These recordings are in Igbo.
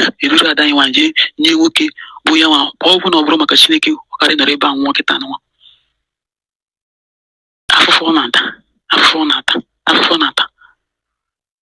e duru ada anyị nwaanyị jee nye nwoke bụ ya nwa ọ bụ na ọ bụrụ maka chineke ọ kara nọrọ ebe ahụ nwụọ kịta nwa afụfụ ọ na-ata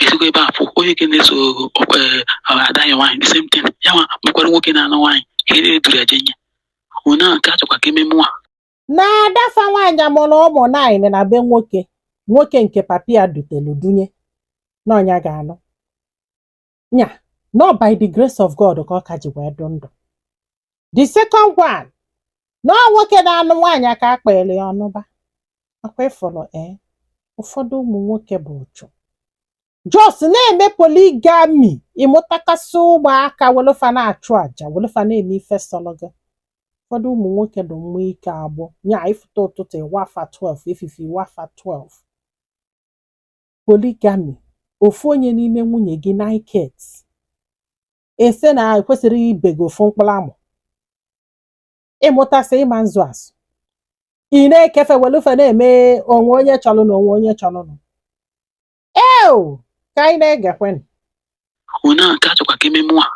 ezigbo ebe a pụ onye ke na-esokwa ada anyị nwaanyị the same thing ya nwa mekwara nwoke na-anụ nwaanyị ka e duru ya jee nye onye ahụ nke a chọkwa ka ememe nwa na ada fa nwaanyị amụrụ ụmụ nine na be nwoke nwoke nke papa ya dutelu dunye na ọ nya ga-anụ nya na ọ by the grace of God ka ọ ka ji wee dụ ndụ the second one na ọ nwoke na-anụ nwaanyị aka akpịrị ya ọnụba akwa ị fụrụ ee ụfọdụ ụmụ nwoke bụ ụchụ just na-eme polygamy ị mụtakasị ụmụaka welu fa na-achụ aja welu fa na-eme ife sọrọ gị ụfọdụ ụmụ nwoke dị mma ike agbụ nya ị fụta ụtụtụ ị wa fa 12 efifie ị wa fa 12 polygamy ofu onye n'ime nwunye gị naịket ese na ekwesịrị ibe gị ofu mkpụrụ amụ ị mụtasị ị ma nzụ azụ ị na-eke fa welu fa na-eme o nwee onye chọrọ nụ o nwee onye chọrọ nụ eo ka anyị na-egekwenụ onye a nke a chọkwa ka ememe a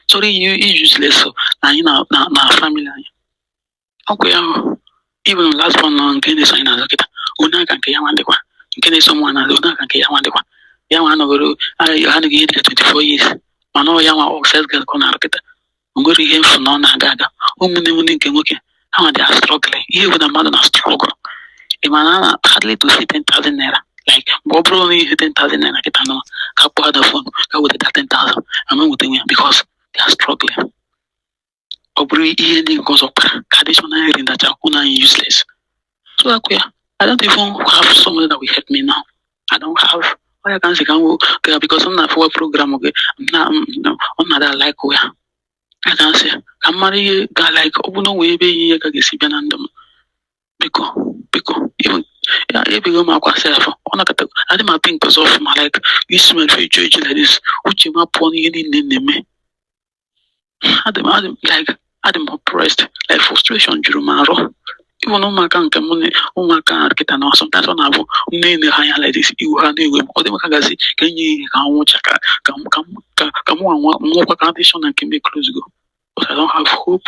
chọrọ iyi iji useless na anyị na na na family anyị ọkwa ya even last one nọ nke na-eso anyị n'azụ kịta onye aka nke ya nwa dịkwa nke na-eso nwa n'azụ onye aka nke ya nwa dịkwa ya nwa anọgoro anyị ha nụghị ihe dịka 24 years mana ọ ya nwa ọ sales girl ka ọ na-arụ kịta o nwerọ ihe m fụ na ọ na-aga aga ụmụnne m ndị nke nwoke ha nwa dị a-struggle ihe bụ na mmadụ na struggle ị ma na a na hardly to see 10,000 naira like mgbe ọ bụrụ na ihe 10,000 naira kịta nọ ka kpọọ ada phone ka weta 10,000 a ma nwetanwu ya because they are struggling ọ bụrụ ihe ndị nke ọzọ kpara ka additional hearing that are una useless so akụ ya i don't even have someone that will help me now i don't have onye ka m si ka m ga because m na-afụwa program gị na ọ na-ada like ya a ka m si ka m mara ihe ga like ọ bụ na o nwe ebe ihe ka ga-esi bịa na ndụ m biko biko ya ebego m akwa self ọ nakọta adị m a-think ọzọ ọfụma like isi mere eju eju like this uche m apụọ n'ihe niile na-eme adị m adị m like adị m oppressed like frustration juru m arụ even na ụmụaka nke m na ụmụaka a kịta na sometimes ọ na-abụ m na-ele ha anya like this iwu ha na-ewe m ọ dị m ka ga-asị ka e nye ihe ka nwụcha ka ka m ka m ka ka mụ nwa nwụkwa ka a dị sure na nke m e-closego but I don't have hope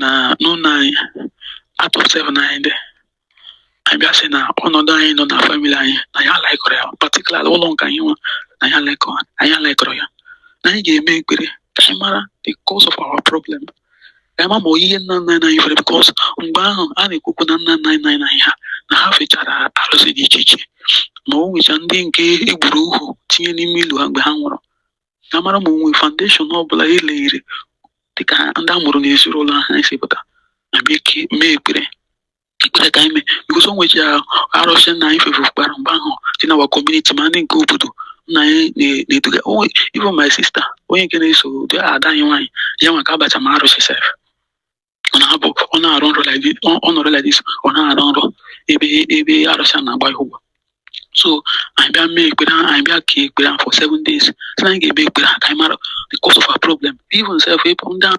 na n'ụlọ anyị out of seven anyị dị anyị bịa sị na ọnọdụ anyị nọ na family anyị na ya alikerọ ya particular ụlọ nke anyị nwa na ya alikerọ anyị alikerọ ya na anyị ga-eme ekpere ka anyị mara the cause of our problem ka anyị ma ma ọ ihe nna nna anyị fere because mgbe ahụ a na-ekwu okwu na nna nna anyị na ha na ha fechara arụsị dị iche iche ma o nwecha ndị nke e gburu ohu tinye n'ime ili ha mgbe ha nwụrụ ka a mara ma o nwe foundation ọ bụla eleghiri dịka ndị a mụrụ n'ezinụlọ ahụ anyị si pụta abịa ike mee ekpere ekpere ka anyị mee because o nwechi arụsị nna anyị fefekwara mgbe ahụ dị na our community ma ndị nke obodo nna anyị na- na-eduga onwe even my sister onye nke na-eso ụdị ada anyị nwaanyị ya nwa ka a bacha ma arụsị sef ọ na-abụ ọ na-arụ nrọ like this, ọ- ọ nọrọ like this, ọ na-arụ nrọ ebe ebe arụsị a na-agba ya ụgwọ so anyị bịa mee ekpere ahụ, anyị bịa kee ekpere ahụ for seven days so anyị ga-eme ekpere ahụ ka anyị mara the cause of our problem even sef ịpụ ndị ahụ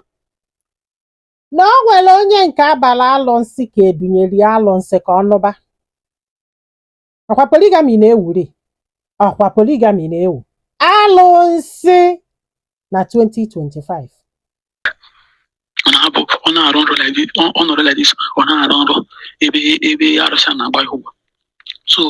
na o nwere onye nke a bara alụsị ka e dunyere ya alụsị ka ọ nụba ọkwa polygamy na-ewuri ọkwa polygamy na-ewu alụsị na 2025 ọ na-abụ ọ na-arụ nrọ like this, ọ- ọ nọrọ like this, ọ na-arụ nrọ ebe ebe arụsị a na-agba ya ụgwọ so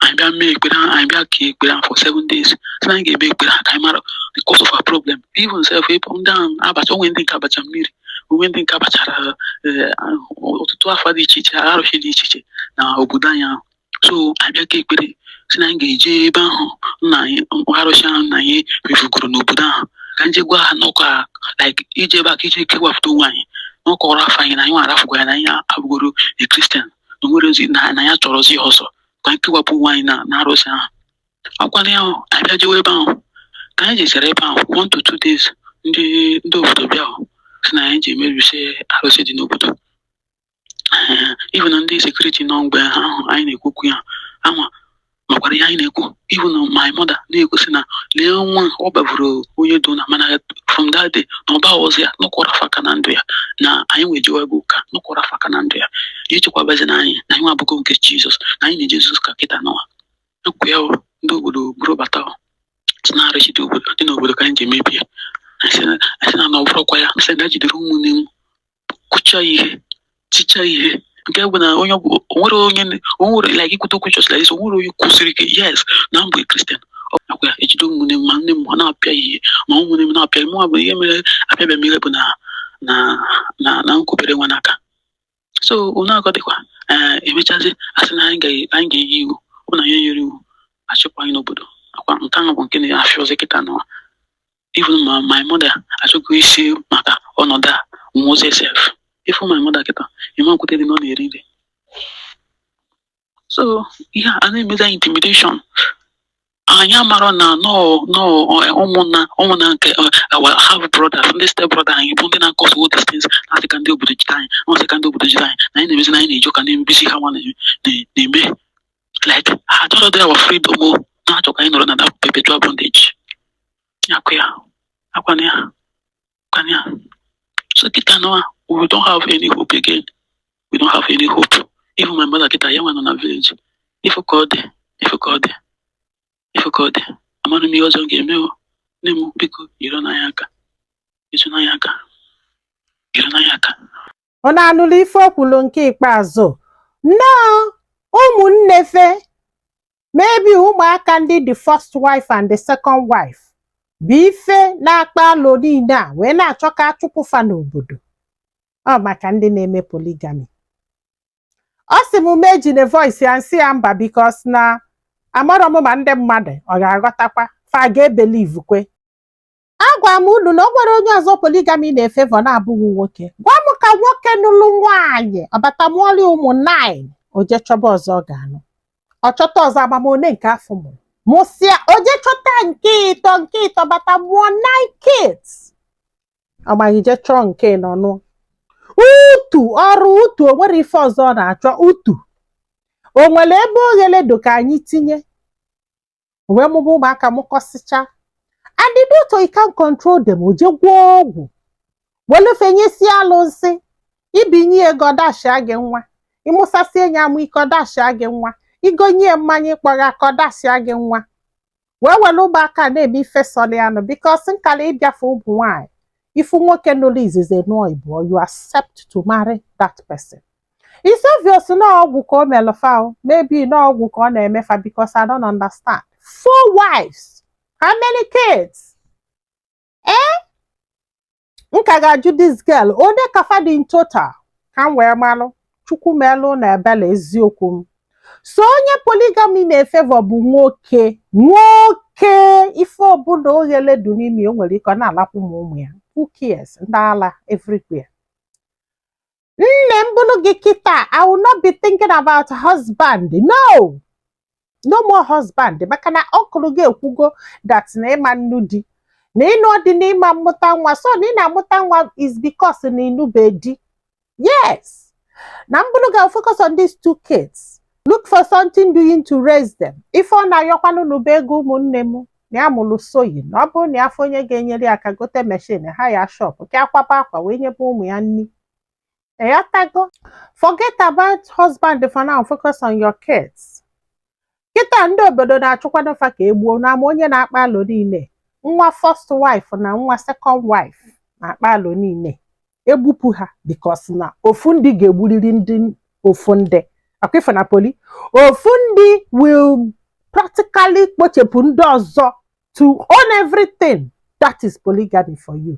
anyị bịa mee ekpere ahụ, anyị bịa kee ekpere ahụ for seven days so anyị ga-eme ekpere ahụ ka anyị mara the cause of our problem even sef ebe ndị ahụ a bacha o nwe ndị nke a bacha mmiri o nwe ndị nke a bachara eh, ọtụtụ afa dị iche iche arụsị dị iche iche na obodo anyị ahụ so anyị bịa kee ekpere sị na anyị ga-eje ebe ahụ nna anyị arụsị ahụ nna anyị mefugoro n'obodo ahụ ka anyị je gwa ha n'ọkụ a like ije ebe a ka ije kewapụta onwe anyị n'ọkụ ọrụ afọ anyị na anyị arafụgo ya na anyị abụgoro a Christian na o nwerọzi na na anyị achọrọzi ya ọzọ ka anyị kewapụ onwe anyị na na arụsị ahụ akwala ya ahụ anyị bịa jewe ebe ahụ ka anyị jesịrị ebe ahụ one to two days ndị ndị obodo bịa sị na anyị ji emerụsi arụsị dị n'obodo even ndị security nọ mgbe ahụ anyị na-ekwu okwu ya ama makwara ihe anyị na-ekwu even my mother na-egosi na lee nwa ọ baburu onye dona mana from that day na ọba ọzọ ya nọkwara faka na ndụ ya na anyị nwee jewa bụ ụka nọkwara faka na ndụ ya ya echekwabazi na anyị na anyị nwa abụgo nke jizọs na anyị na-eje jizọs ka kịta nụwa ekwu ya o, ndị obodo buru bata o, sị na arụsị dị obodo dị n'obodo ka anyị ji emebi anyị sị na- anyị sị na na ọ bụrụkwa ya sị na e jidere ụmụnne m kụcha ihe ticha ihe nke bụ na onye ọbụ- o nwere onye n- o nwere like i kwute okwu just like this o nwere onye kwụsịrị ike yes na m bụ Christian ọkwa ya ejide ụmụnne m ma nne m ọ na-apịa ihe ma ụmụnne m na-apịa mụ bụ ihe mere apịabịa m ihe bụ na na na na m kubere nwa n'aka so unu akọ dịkwa ee emechazi asị na anyị ga- anyị ga-eyi iwu ọ bụ na anyị nyere iwu a chụkwa anyị n'obodo ọkwa nke ahụ bụ nke na-afịọzi kịta nụwa even ma my mother achọghị isi maka ọnọdụ a nwozi sef ị fụ my mother kịta ị ma-ekwetedị na ọ na-eri nri so ihe a na-emezi anyị intimidation anyị amarọ na nọọ nọọ ụmụnna ụmụnna nke our half brothers ndị step brother anyị bụ ndị na-cause all these things na asị ka ndị obodo jide anyị na asị ka ndị obodo jide anyị na anyị na-emezi na anyị na-eji ụka na-emebisi ha nwa na-eme like ha chọrọ dị awa freedom o na-achọ ka anyị nọrọ na that perpetual bondage akụ ya akwana ya akwana ya so kịta nọ we don't have any hope again we don't have any hope even my mother kịta ya nwa nọ na village ife ka ọ dị ife ka ọ dị ife ka ọ dị amaghị m ihe ọzọ m ga-eme o nne m biko nyere n'anya aka nyere n'anya aka nyere n'anya aka unu anụlụ ife o kwulu nke ikpeazụ na ọ ụmụnne fa maybe ụmụaka ndị the first wife and the second wife bụ ife na-akpa alụ niile a wee na-achọ ka a chụpụ fa n'obodo ọ maka ndị na-eme polygamy ọ sị m mụ ejine voice ya m sị ya mba because na amarọ m ma ndị mmadụ ọ ga-aghọtakwa fa ga-ebelieve kwe agwa m unu na o nwere onye ọzọ polygamy na-efavour na-abụghị nwoke gwa m ka nwoke nụlụ nwaanyị ọ bata mụọlụ ụmụ nine o je chọba ọzọ ọ ga-anụ ọ chọta ọzọ ama m one nke afụ mụrụ mụsịa o je chọta nke ịtọ nke ịtọ bata mụọ nine kids ọ maghị je chọọ nke ịnọ nụọ utu ọrụ utu o nwere ife ọzọ ọ na-achọ utu o nwere ebe oghere dụ ka anyị tinye o wee mụba ụmụaka mụkọsịcha and the doctor he can't control them o je gwọọ ọgwụ welu fa nyesie alụsị i binye ya ego ọ dashia gị nwa ị mụsasị enyi amụ ike ọ dashia gị nwa i gonye ya mmanya ịkpọgha ka ọ dashia gị nwa wee were ụmụaka na-eme ife sọrọ ya nụ because nkala ịbịafe ụmụ nwaanyị ị fụ nwoke nụrụ izizi nụọ ịbụọ you accept to marry that person It's obvious na ọgwụ ka o melụ fa o. Maybe na ọgwụ ka ọ na-eme fa because I don't understand. Four wives. How many kids? Eh? M ka ga-ajụ this girl. One ka fa dị in total? Ka m wee malụ. Chukwu melụ na ebele eziokwu m. So onye polygamy na-efavour bụ nwoke. Nwoke! Ife ọbụla oghele dị n'ime ya, o nwere ike ọ na-alakwu ma ụmụ ya. Who cares? Ndị ala everywhere. nne m bụrụ gị kịta I will not be thinking about husband no no more husband maka na uncle gị ekwugo that na ị ma nnụ di na ị nụọ di na ị ma mmụta nwa so na ị na-amụta nwa is because na ị nụbe di yes na m bụrụ gị focus on these two kids look for something doing to raise them ife ọ na-ayọkwanụ unu bụ ego ụmụnne m na ya mụrụ sewing na ọ bụrụ na ya afụ onye ga-enyere ya aka gote machine hire shop ka ya kwaba akwa wee nyebe ụmụ ya nni ị ghọtago forget about husband for now focus on your kids kịta ndị obodo na-achụkwanụ fa ka e gbuo na ama onye na-akpa alụ niile nwa first wife na nwa second wife na-akpa alụ niile egbupu ha because na ofu ndị ga-egburiri ndị ofu ndị ọkwa ife na poli ofu ndị will practically kpochapụ ndị ọzọ to own everything that is polygamy for you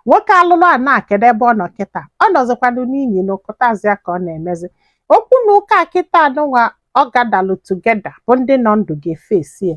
nwoke alụlụana kedu ebe ọ nọ kịta ọ nọzikwanụ n'inyi na ụkụtazi ya ka ọ na-emezi okwu na ụka kịtaa nụnwa ọ gadalụ together bụ ndị nọ ndụ ga-efesi ya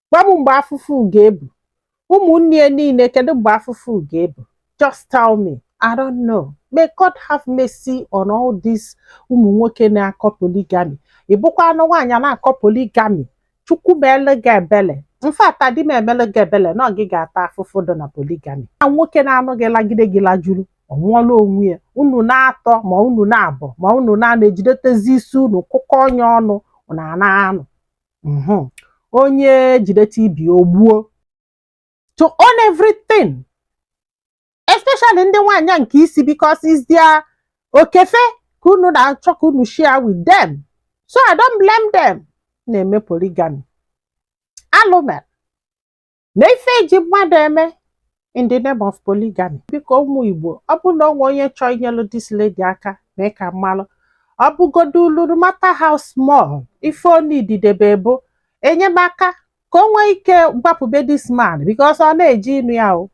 gwa m mgbe afụfụ ga-ebu ụmụnne ya niile kedu mgbe afụfụ ga-ebu just tell me I don't know may God have mercy on all these ụmụ nwoke na-akọ polygamy ị bụkwanụ nwaanyị na-akọ polygamy chukwu meele gị ebele in fact adị m emele gị ebele na ọ gị ga-ata afụfụ dị na polygamy na nwoke na-anụ gị lagide gị lajuru ọ nwụọla onwe ya unu naatọ ma unu naabọ ma unu naanọ ejidetezi isi unu kụkọnye ọnụ na na-anụ Mhm. onye jidete ibe o gbuo to own everything especially ndị nwaanyị nke isi because it's their oke ife ka unu na-achọ ka unu share with them so i don't blame them na-eme polygamy alụ mere na ife eji mmadụ eme in the name of polygamy biko ụmụ igbo ọ bụrụ na o nwee onye chọọ inyelu this lady aka mee ka m malụ ọ bụgodulu no matter how small ife onididebe bụ enyemaka ka o nwee ike gbapụ be this man because ọ na-eje ịnụ ya o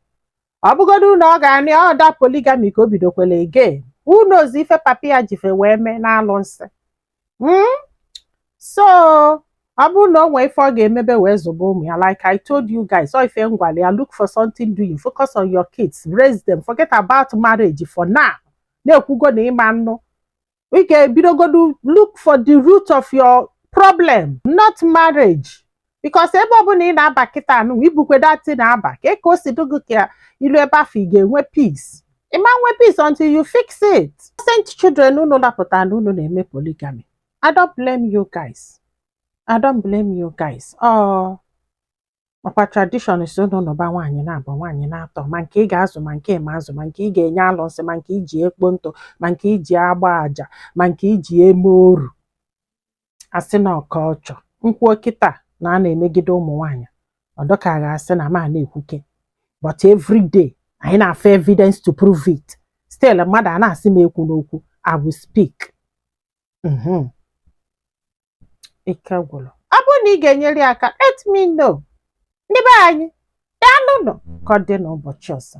ọ bụgodu na ọ ga another polygamy ka o bidokwele again who knows ife papa ya ji fa wee mee n'alụsị mm? so ọ bụrụ na o nwee ife ọ ga-emebe wee zụba ụmụ ya like I told you guys ọ ife m gwalụ ya look for something doing focus on your kids raise them forget about marriage for now na ekwugo na ị ma-anụ ị ga-ebidogodu look for the root of your problem not marriage because ebe ọbụla ị na-aba kịta nụ i bukwa that thing na-aba ka ka o si dị gị ka i lue ebe afụ ị ga-enwe peace ị ma-enwe peace until you fix it innocent children unu lapụta na unu na-eme polygamy I don't blame you guys I don't blame you guys oh makwa tradition sị unu nụba nwaanyị naabọ nwaanyị naatọ ma nke ị ga-azụ ma nke ị ma-azụ ma nke ị ga-enye alụsị ma nke i ji ekpo ntụ ma nke i ji agba aja ma nke i ji eme oru asị na ọka ọchọ m kwuo kịta na a na-emegide ụmụ nwaanyị ọ dị ka a ga-asị na m na-ekwuka but every day anyị na-afụ evidence to prove it still mmadụ a na-asị m ekwuna okwu I will speak Mhm. ike gwụrụ ọ bụrụ na ị ga-enyere ya aka let me know ndị be anyị daalụnụ ka ọ dị n'ụbọchị ọzọ